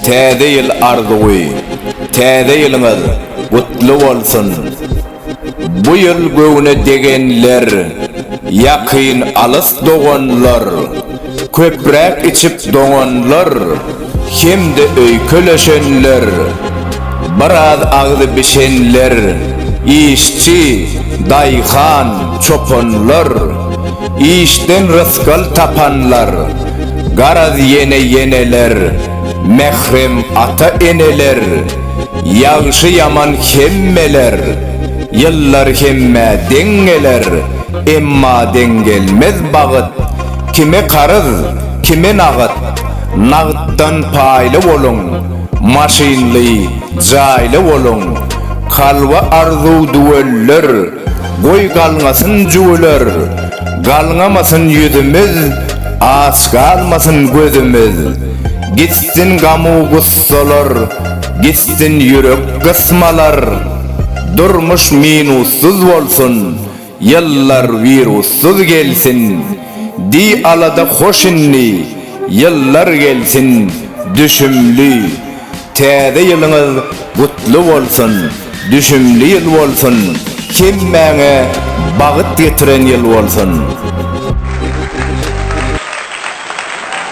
Täze ýyl arzuwy, Täze ýylyňyz gutly bolsun! Bu ýyl göwne degenler, ýakyn-alys doganlar! Köpräk içip doňanlar hem-de öýkeleşenler, biraz agzy bişenler, işçi, daýhan, çopanlar, işden rysgal tapanlar, garaz ýene-ýeneler, mährem ata-eneler, ýagşy-ýaman hemmeler, ýyllar hemmä deň geler, emma deň gelmez bagyt, Kime karyz, kime nagt, nagtdan paýly boluň, maşynly, jaýly boluň, kalba arzuw düwelder, goý galňasyn jüwüler, galňamasyn ýüzümiz, aç galmasyn gözümiz, gitsin gamu gussalar, gitsin ýürek gysmalar, durmuş minussyz bolsun, Ýyllar wirussyz gelsin, Di alada hoş indi, Ýyllar gelsin, Düşümli. Täze ýylyňyz gutly bolsun, Düşümli ýyl bolsun, Hemmäňe bagyt getiren ýyl bolsun.